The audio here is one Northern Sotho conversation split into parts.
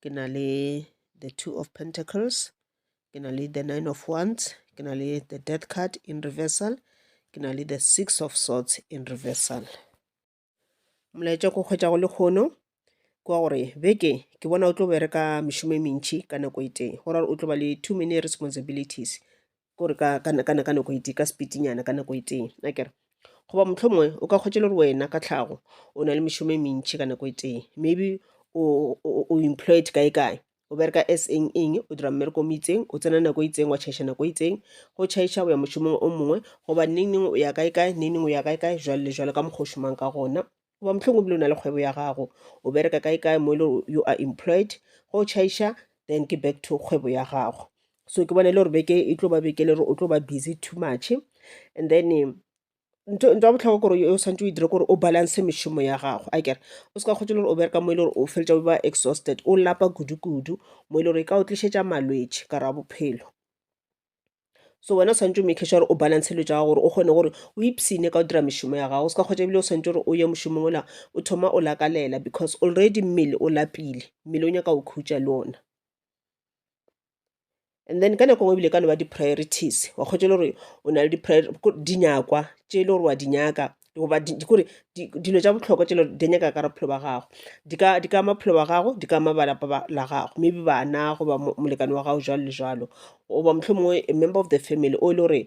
ke na le the two of pentacles ke na le the nine of wands ke na le the death card in reversal ke na le the six of swords in reversal molaetša ko kgwetša go le kgono kwa gore beke ke bona o tlo bereka mešomo e mentši ka nako e tee go ra gore o tlo ba le too many responsibilities kore ka nako e tee ka sepitinyana ka nako e tee akere goba mohlomongwe o ka kgwetša le gore wena ka tlhago o na le mešomo e mentši ka nako e tee maybe o employed kae kae o bereka as eng eng o dira mmereko mo itseng o tsena nako e itseng wa tšhaiša nako e itseng go tšhaiša go ya mošomong o mongwe goba neng neng o ya kae kae neng neng o ya kae kae jwale le jwale ka mokgwa o šomang ka gona Goba mohlomong o bile o na le kgwebo ya gago, o bereka kae kae mo e le gore you are employed. Ge o chaiša, then ke back to kgwebo ya gago. So ke bona e le gore beke e tlo ba beke e le gore o tlo ba busy too much. And then ntho ntho ya bohlokwa kore o santse o e dire kore o balance mešomo ya gago a kere o se ka kgotse e le gore o bereka mo e le gore o feletša o ba exhausted o lapa kudu kudu mo e le gore e ka o tlišetša malwetši ka ra bophelo. so wena o tshwanetse o make sure gore o balance dilo tsa gago gore o kgone gore o ipsene ka go dira mešomo ya gago o se ka kgwetsa ebile o tshwanetse gore o ye mošomong ola o thoma o lakalela because already mmele o lapile mmele o nyaka o khutša le ona and then ka nako ngwe ebile ka no ba di-priorities wa kgwetsa le gore o na le dinyakwa tše e le gore wa di nyaka goba kore dilo tša bohlokwa tšelo di nyaka ka bophelo ba gago di ka di ka ama bophelo ba gago di ka ama ba lapa la gago maybe bana goba molekane wa gago jwalo le jwalo goba mohlho mongwe a member of the family o e le gore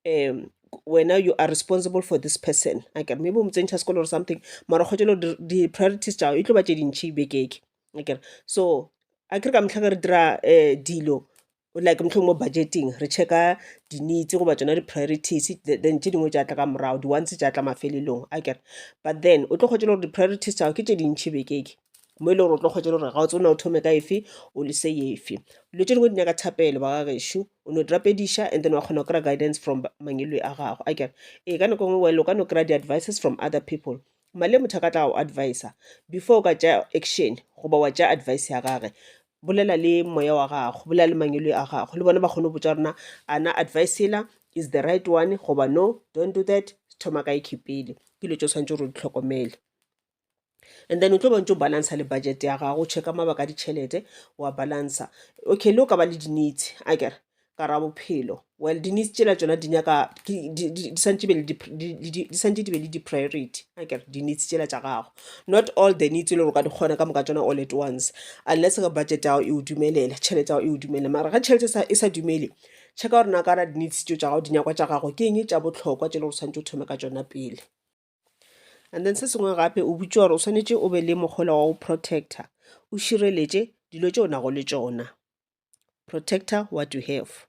um wena you are responsible for this person akere maybe o mo tsentšha sekolo or something mara kgotšelo di-priorities tšao e tlo ba tše dintšhi bekeke akere so a kere ka metlha ka re dira um dilo Like mohlomongwe mo budgeting re check-a di-needs goba tsona di-priorities then tše dingwe tša tla ka morago, di-wants tša tla mafelelong akere. But then o tlo kgwetša le gore di-priorities tša gago ke tše dintšhi beke e, mo e le gore o tlo kgwetša le gore ga o tsebe na o thome ka efe o lese efe. Dilo tše dingwe di nyaka thapelo ba ga gešo, o no di rapediša and then wa kgona go kry-a guidance from mangwelwe a gago akere. Ee ka nako e nngwe well o ka no kry-a di-advices from other people Male motho a ka tla go advisa before o ka tša action goba wa tša advice ya gage bolela le moya wa gago bolela le mangelo a gago le bona ba kgone go botsa rena ana advice ela is the right one goba no don't do that thoma ka ikhe pele ke dilo tse o tshwanetse gore o di tlhokomele and then o tlo bontse o balansa le budget ya gago o checka mabaka a ditšhelete wa balansa okay le o ka ba le dinitse a kere ka ra bophelo well dinese tsela tsona di nyaka di santse di be le di-priority a kere dinese tsela tša gago not all the needs e le gore ka di kgona ka moka tsona all at once unless ka budget yago e o dumelela tšhelete yago e o dumelela mara ga tšhelete e sa dumele checka gore na ka ra dinese tso tša gago dinyakwa tša gago ke eng tša botlhokwa tse le gore santse o thome ka tsona pele and then se sengwe gape o butša gore o swanetše o be le mogola wa go protector o šireletše dilo tše o nago le tšona protector what you have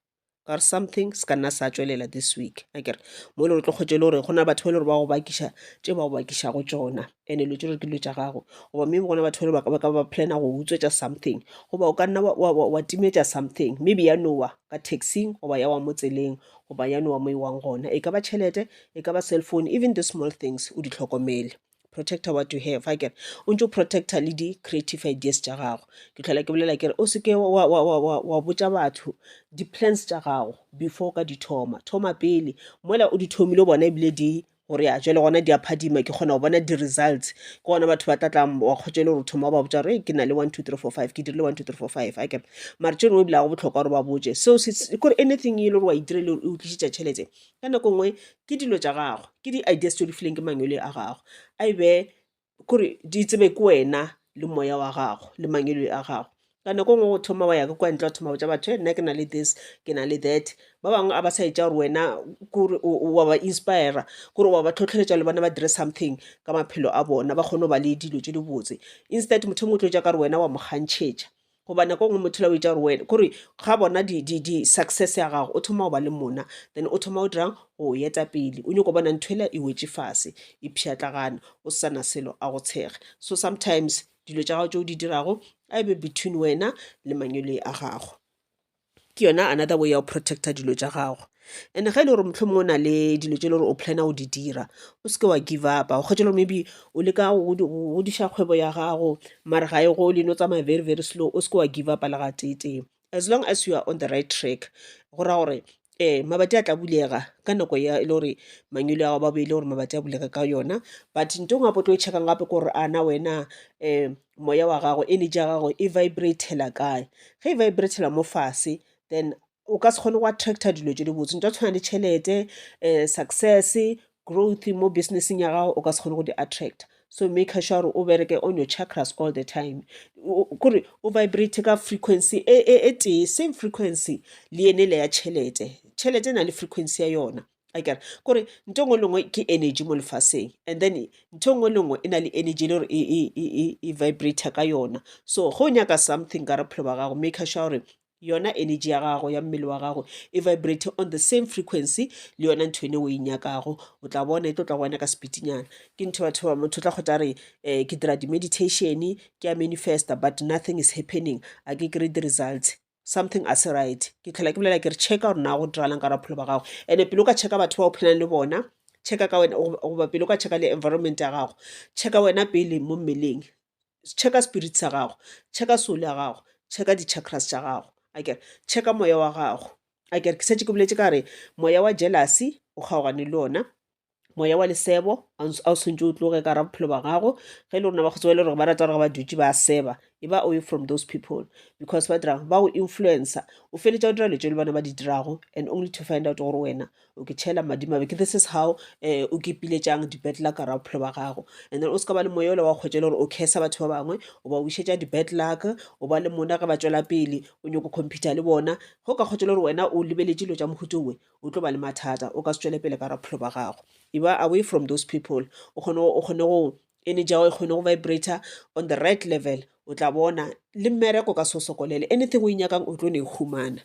or something se ka nna sa tšwelela this week akere mo le gore tlo kgotse le gore go na batho ba le gore ba go bakiša tše ba go bakišago tšona and-e lo tše gore ke dilo tša gago goba maybe gona batho ba le ba ka ba plana go utswetša something goba o ka nna wa timetša something maybe ya nowa ka taxing goba ya wa mo tseleng goba ya nowa mo e wang gona e ka ba tšhelete e ka ba cell phone even the small things o di hlokomele protector what you have a kere o ntse o protector le di-creative ideas tša gago ke tlhola ke bolela kere o seke wa, wa, wa, wa, wa botša batho di-plans tša gago before ka di thoma thoma pele mola o di thomile o bona ebile di gore ya jale gona di a phadima ke kgona go bona di-results ke gona batho ba tlatla wa kgotsa le gore o thoma ba botsa gore ke na le one two three four five ke dirile one two three four five a kere mare tše dingwe ebile ga go botlhokwa gore ba botse seo kore anything e le gore wa e dirile o tlišitša tšhelete ka nako nngwe ke dilo tša gagwe ke di-ideas tse o di fileng ke mangwele a gago a e be kore di tsebe ke wena le moya wa gago le mangwele a gago ka nako nngwe go thoma wa ya ke kwa ntle wa thoma botsa batho e nna ke na le this ke na le that ba bangwe a ba sa etša gore wena kore wa ba inspira kore wa ba tlhotlheletša le bona ba dire something ka maphelo a bona ba kgone go ba le dilo tse dibotse instead motho o mongwe o tlo etša ka gore wena wa mo kgantšhetša Goba nako engwe motho la o etša gore wena kore ga bona di di di success ya gago o thoma go ba le mona then o thoma o dirang go eta pele o nyoko bona ntho ela e wetše fase e pšhatlagana o sana selo a go tshega so sometimes dilo tša gago tše o di dirago a e be between wena le manyoloi a gago ke yona another way ya go protecta dilo tša gago and ge e le gore mohlomong o na le dilo tse e le gore o plana go di dira o seke wa give upa o kgwetše gore maybe o leka godiša kgwebo ya gago mare ga e go le no tsamaya very very slow o seke wa give upa le gateetee as long as you are on the right track go raya gore um mabati a tla bulega ka nako ya e le gore mangwele ao ba boele gore mabati a bulega ka yona but nto ngwe gape o tlo e checkang gape ke gore ana wena um moya wa gago energy ya gago e vibratela kae ge e vibratela mo fase then o ka se kgone go attracta dilo tse di botse nto tshwana le tšhelete um success growth mo businesseng ya gago o ka se kgone go di attracta so maker sure gore o bereke on your chakras all the time kore o vibrate ka frequency e, e, e tee same frequency le ene le ya tšhelete tšhelete e na le frequency ya yona a kere kore nto ngwe lengwe ke energy mo lefaseng and then nto ngwe lengwe e na le energy le gore e, e, e, e, e vibrate ka yona so go nyaka something ka bophelo ba gago make sure gore yona energy ya gago ya mmele wa gago e vibrate on the same frequency le yona ntho ene o e nyakago o tla bona e tlo tla go wena ka sepitinyana ke ntho batho ba motho tla kgotla re um ke dira di-meditation ke ya manifesta but nothing is happening a ke kry di-results something a se right ke tlhola ke bolela ke re checka gore na go diralang ka bophelo ba gago and-e pele o ka checka batho ba o phelang le bona checka ka wena goba pele o ka checka le environment ya gago checka wena pele mo mmeleng checka spirit sa gago checka soul ya gago checka di-chakras tša gago a kere checka moya wa gago a kere ke setse ke boletse ka re moya wa jealousy o kgaogane le ona moya wa lesebo a o swantse o tloge ka ra bophelo ba gago ge e le rona ba kgotsi ba e le gore ba rata gore ba dutše ba seba e ba away from those people because ba dirang ba go influencer o feletša o dira letswe le bona ba di dirago and only to find out gore wena o ke tšhela madimabe ke this is how um eh, o kepiletšang dibetla ka ra bophelo ba gago and then o se ka ba le moya ola wa kgwetša le gore o kesa batho ba bangwe o ba wišetša dibetlaka o ba le mona ge ba tšwela pele o nyoko computer le bona go ka kgwetša le gore wena o lebeletše dilo tša mohuto owe o tlo ba le mathata o ka se tšwele pele ka raphelo ba gago e ba away from those people o kgone o kgone go ene jago e kgone go vibrator on the right level o tla bona le mmereko ka se o sokolele anything o e nyakang o tlo ne e humana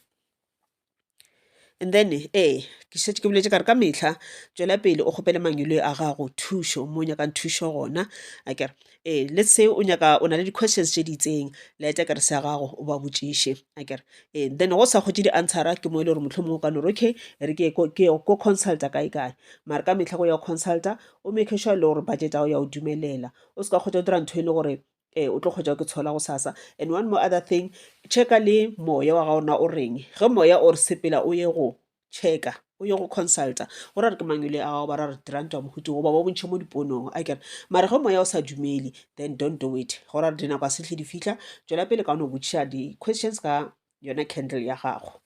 and then ee ke šetse ke boletse ka re ka metlha tswela pele o kgopele mangwele a gago thušo mo nyakang thušo gona akere Ee, let's say o nyaka o na le di-questions tše di itseng laeta kere se ya gago o ba botšiše akere ee then go sa kgotše di-answera ke mo e le gore motlho mongwe o ka no re okay re ke ko consulta kae kae mare ka metlha go ya consulta o make sure e le gore budget ao ya o dumelela o se ka kgotsa o dira ntho e le gore ee o tlo kgotsa ke tshola go sasa and one more other thing checka le moya wa ga ona o reng ge moya o re sepela o ye go checka o ye go consulta go ra re ke mang yole ao ba ra re diranta wa mohuti goba ba bontšhe mo diponong a kere mare ge moya o sa dumele then don't do it go ra re dinako a setlhe di fitlha tswela pele ka o ne o botšiša di-questions ka yona candle ya gago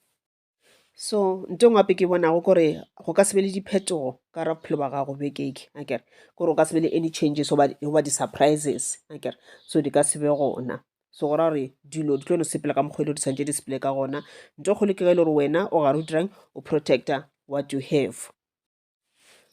so nto ngwape ke bonago kore go ka sebe le diphetogo ka ra bophelo ba gago bekeke a kere kore o ka sebe le any changes goba di-surprises a kere so di ka sebe gona so go ra gore dilo di tlo no sepela ka mokgwa e le di tshwanetse di sepele ka gona nto kgolo ke ge e le gore wena o gare o dirang o protector what you have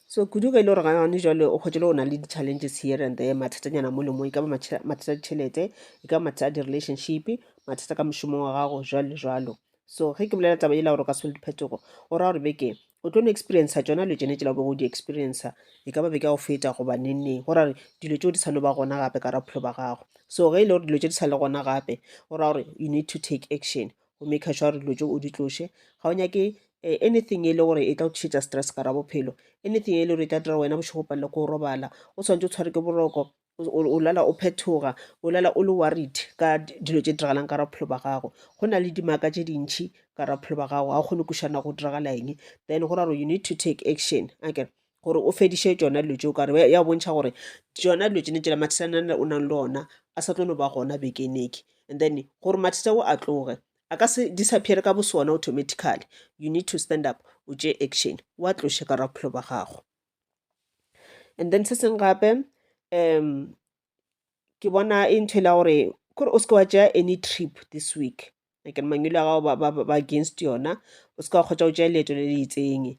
so kudu ge e le gore gane jale o kgwetse le o na le di-challenges here and there mathatanyana mo le mo e ka ba mathata a ditšhelete e ka ba mathata a di-relationship mathata ka mošomo wa gago jalo le jalo So ge ke bolela taba yela gore o ka se bone diphetogo, o raya gore beke o tlo no experienca tšona dilo tšene tšela o bego o di experienca e ka ba beke ya go feta goba nengneng go raya gore dilo tšeo di sa no ba gona gape ka ra bophelo ba gago so ge e le gore dilo tše di sa le gona gape o raya gore you need to take action go make sure gore dilo tšeo o di tloše ga o nyake eh, anything e le gore e tla go tlišetsa stress ka ra bophelo anything e le gore e tla dira wena bošego palele ko o robala o tshwanetse o tshware ke boroko o o lala o phethoga o lala o le worried ka di- dilo tše diragalang ka ra bophelo ba gago go na le dimaka tše dintšhi ka ra bophelo ba gago ga o kgone kušana go diragala eng then go ra gore you need to take action akere gore o fediše tšona dilo tšeo kare ya bontšha gore tšona dilo tsene tsela mathesana o nang le ona a sa tlo no ba gona bekeneke and then gore mathesa o a tloge a ka se disappear ka bosona automatically you need to stand up o tše action wa tloše ka ra bophelo ba gago and then se seng gape um ke bona e ntho e la gore kore o seke wa tšea any trip this week ekere mangwelo a gago ba against yona o seke wa kgotsa o tšea leeto le le itseng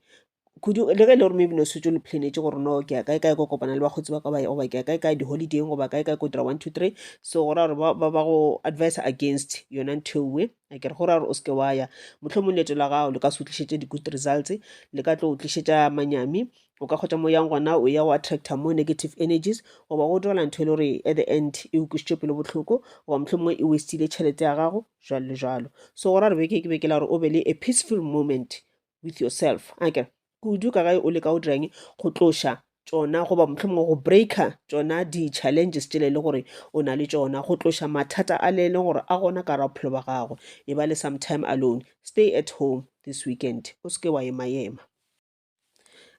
kudu le ge e le gore maybe no setse le planetse gore no ke ya kae kae ko kopana le bakgotsi ba ka goba ke ya kae kae di-holidayng goba kae kae ko dira one two three so go ra gore ba go advice against yona ntho ewe a ke re go ra gore o seke wa ya mohlomong leeto la gago le ka se tlišetše di-good results le ka tlo o tlišetša manyami o ka kgotsa mo yang gona o ya go attracta more negative energies goba go direla ntho e le gore at the end e o kwisitše pelo botlhoko goba mohlomongwe e westile tšhelete ya gago jalo le jalo so go ra re beke ke beke la gore o be le a peaceful moment with yourself a ke kudu ka gae o leka o dirang go tloša tšona goba mohlomongwe go breaker tšona di-challenges tšele le gore o na le tšona go tloša mathata a le leng gore a gona ka ra bophelo ba gago e ba le sometime alone stay at home this weekend o se ke wa emayema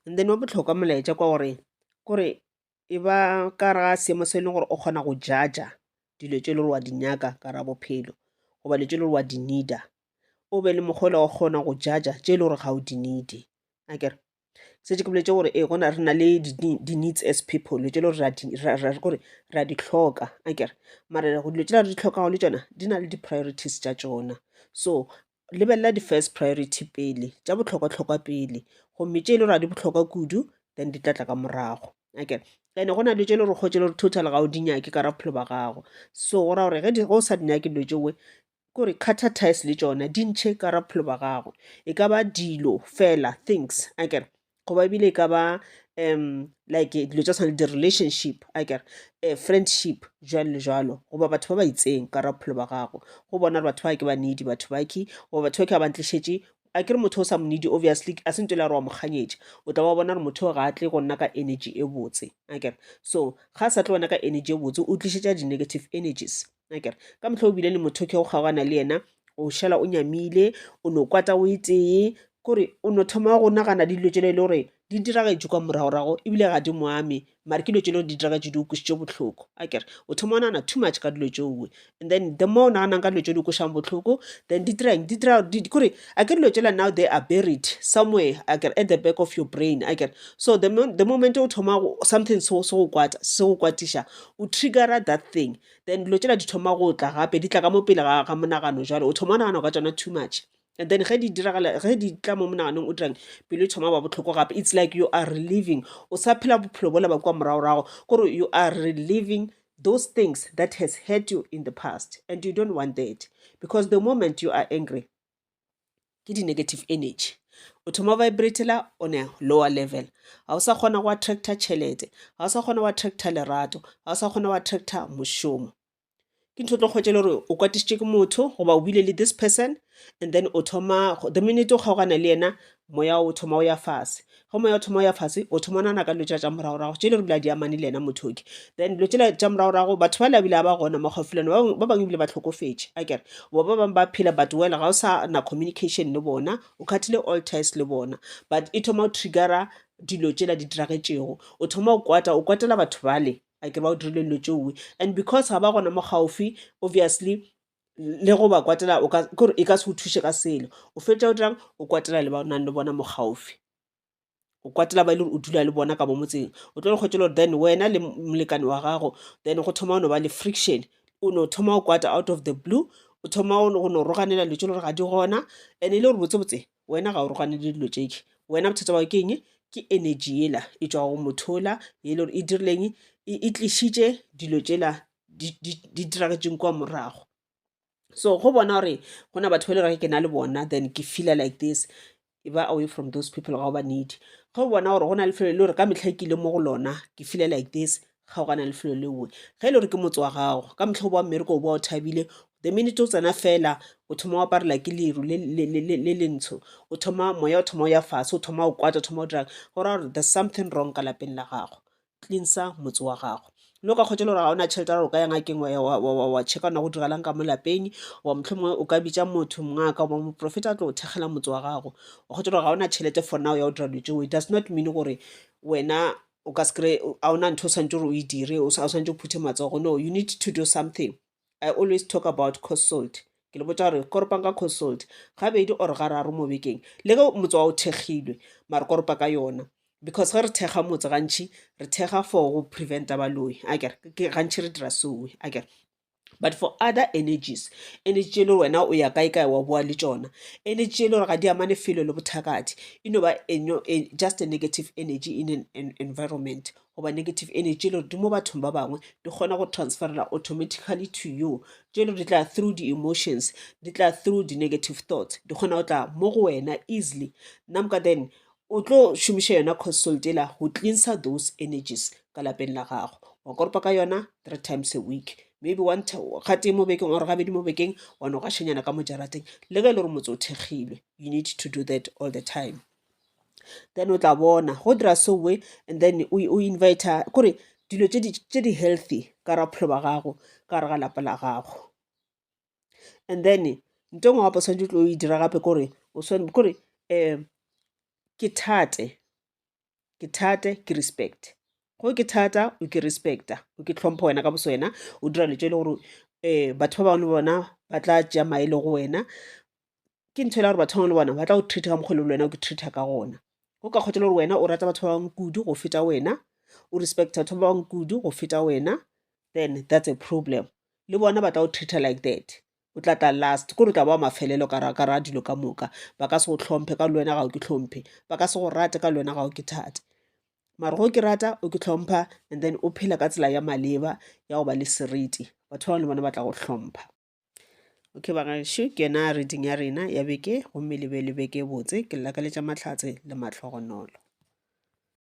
and then wa botlhokwa molaetša kwa gore kore e ba ka gare ga seemo se e leng gore o kgona go jaja dilo tse e le gore wa di nyaka ka ra bophelo goba dilo tse e le gore wa di needa o be le mokgwa o kgona go jaja tse e le gore ga o di neede a kere setse ke boletse gore ee gona re na le di-needs as people dilo tse e le gore kore re a di tlhoka a kere mara dilo tse di tlhokago le tsona di na le di-priorities tša tsona so lebelela di-first priority pele, tša bohlokwa-hlokwa pele gomme tše e le gore ga di bohlokwa kudu then di tla tla ka morago. Okay, and-e go na le dilo tše e le gore o kgotše le gore total ga o di nyake ka gare ga bophelo ba gago, so go raya gore ge di, ge o sa di nyake dilo tšeo, kore cutter ties le tšona di ntšhe ka gare ga bophelo ba gago. E ka ba dilo fela, things, akere. goba ebile e ka ba um like dilo tša tshwana le di-relationship akere um friendship jwalo le jwalo goba batho ba ba itseng ka ra bophelo ba gago go bona gore batho ba ke ba needy batho ba ke goba batho ba ke ba ba ntlišetše a kere motho o sa mo needy obviously a se nto le gore wa mo kganyetša o tla ba bona gore motho ga a tle go nna ka energy e botse akere so ga a sa tle wena ka energy e botse o tlišetša di-negative energies akere ka mohla o bile le motho ke go kgaogana le yena o šala o nyamile o no kwata o e tee kore o no thoma go nagana dilo tšelo e le gore di diragetše kwa moragorago ebile ga di moame mare ke dilo tšelo di diragetše di o kwesetše botlhoko a kere o thoma o nagana too much ka dilo tšeoe and then the more o naganang ka dilo tšeo di kwešang botlhoko then di dirang di dira kore a ke dilo tšela now they are buried somewhere a kere at the back of your brain a kere so the, the moment o thoma something se go kwata se go kwatiša o triggera that thing then dilo tšela di thoma go tla gape di tla ka mo pele ga ga monagano jalo o thoma o nagana ka tsona too much and then ge di diragala ge di tla mo monaganong o dirang pelo e thoma ba botlhoko gape it's like you are reliving o sa phela bophelo bola ba kua moragorago gore you are reliving those things that has hurt you in the past and you don't want that because the moment you are angry ke di-negative energy o thoma vibratela on a lower level ga o sa kgona go attracta tšhelete ga o sa kgona go attracta lerato ga o sa kgona go attracta mošomo ke ntho tlo kgwetše le gore o kwatišitše ke motho goba o bile le this person and then o thoma the minute o kgaogana le yena Moya o thoma o ya fase. Ge moya o thoma o ya fase, o thoma o nagana ka dilo tšela tša moragorago, tše e le gore ebile a di amane le yena motho yoke. Then dilo tšela tša moragorago, batho bale ebile ga ba gona mo gaufi le wena, ba bangwe ebile ba tlhokofetše, akere? Goba ba bangwe ba phela but well ga o sa na communication le bona, o cut-ile all ties le bona. But e thoma go trigger-a dilo tšela di diragetšego. O thoma go kwata, o kwatela batho bale, akere ba go dirile dilo tše uwe. And because ga ba gona mo gaufi, obviously le go ba kwatela o ka ke gore e ka se o thuše ka selo o fetša o dirang o kwatela le ba o nang le bona mo gaufi o kwatela ba e le gore o dula le bona ka mo motseng o tlo le kgwetšela gore then wena le molekane wa gago then go thoma o no ba le friction o no thoma o kwata out of the blue o thoma o no- go no roganela dilo tse le gore ga di gona and e le gore botsebotse wena ga o roganele dilo tšeke wena bothata bao ke eng ke energy ela e tswa go mothola e le gore e dirileng e e tlišitše dilo tšela di diragetšeng kwa morago so go bona gore go na batho ba e le gore ke na le bona then ke feeler like this e ba away from those people ga o ba need ge o bona gore go na le lefelo e le gore ka metlha ke ile mo go lona ke feeler like this kgaogana le lefelo leoe ge e le gore ke motse wa gago ka motlha o boa mmereko o boa o thabile the minute o tsena fela o thoma o aparela ke leru le lentsho o thoma moya o thoma o ya fase o thoma o kwata o thoma o dirang go raya gore there's something wrong ka lapeng la gago cleansa motse wa gago le o ka kgotsa gore ga ona tšhelete ra o ka ya ngakeng wa checka ona go diragalang ka mo lapeng wa mohlomongwe o ka bitsa motho mongwe a ka ba moprofeta a tlo go thekgela motse wa gago wa kgotsa gore ga ona tšhelete for now ya go dira dilo tseo it does not mean gore wena o ka se kry-e ga ona ntho o santse gore o e dire o santse o phuthe matsogo no you need to do something I always talk about coast salt ke le botša gore koropang ka coast salt gabedi or gararo mo bekeng le ge motse wa o thekgilwe mare koropa ka yona because ge re thekga motse gantšhi re thekga for go preventa baloi a kere gantšhi re dira soe a kere but for other energies energy tše e le gore wena o ya kae kae wa boa le tšona energy tše e le gore ga di amane felo le bothakati e no ba e, just a negative energy in an environment goba negative energy le di mo bathong ba bangwe di kgona go transferela automatically to you tšelo di tla through di-emotions di tla through di-negative thoughts di kgona go tla mo go wena easily namka then o tlo šomiša yona consult ela go cleansa those energies ka lapeng la gago wa koropa ka yona three times a week maybe one gatee mo bekeng or gabedi mo bekeng wa no gašanyana ka mojarateng le ge e le gore motse o thekgilwe you need to do that all the time then o tla bona go dira so we and then o inviter kore dilo tse di healthy ka gare ga bophelo ba gago ka gare ga lapa la gago. And then nto engwe gape o swanetše o tlo e dira gape kore kore ke thate, ke thate ke respect. Ge ke thata o ke respect-a o ke hlompha wena ka boswena o dira dilo tše e le gore batho ba bangwe le bona ba tla tšea maele go wena ke ntho e la gore batho bangwe le bona ba tla go treata ka mokgwa le wena o ke treata ka gona go ka kgotsa le gore wena o rata batho ba bangwe kudu go feta wena o respect batho ba bangwe kudu go feta wena then that's a problem le bona ba tla go treata like that o tla tla last kore o tla ba wa mafelelo ka ra dilo ka moka ba ka se go tlhomphe ka le wena ga o ke tlhomphe ba ka se go rate ka le wena ga o ke thate mara go ke rata o ke tlhompha and then o phela ka tsela ya maleba ya go ba le seriti batho ba bangwe le bona ba tla go hlompha okay bagaešo ke yona reading ya rena ya beke gomme le be le beke botse ke llakaletša mahlatse le mahlogonolo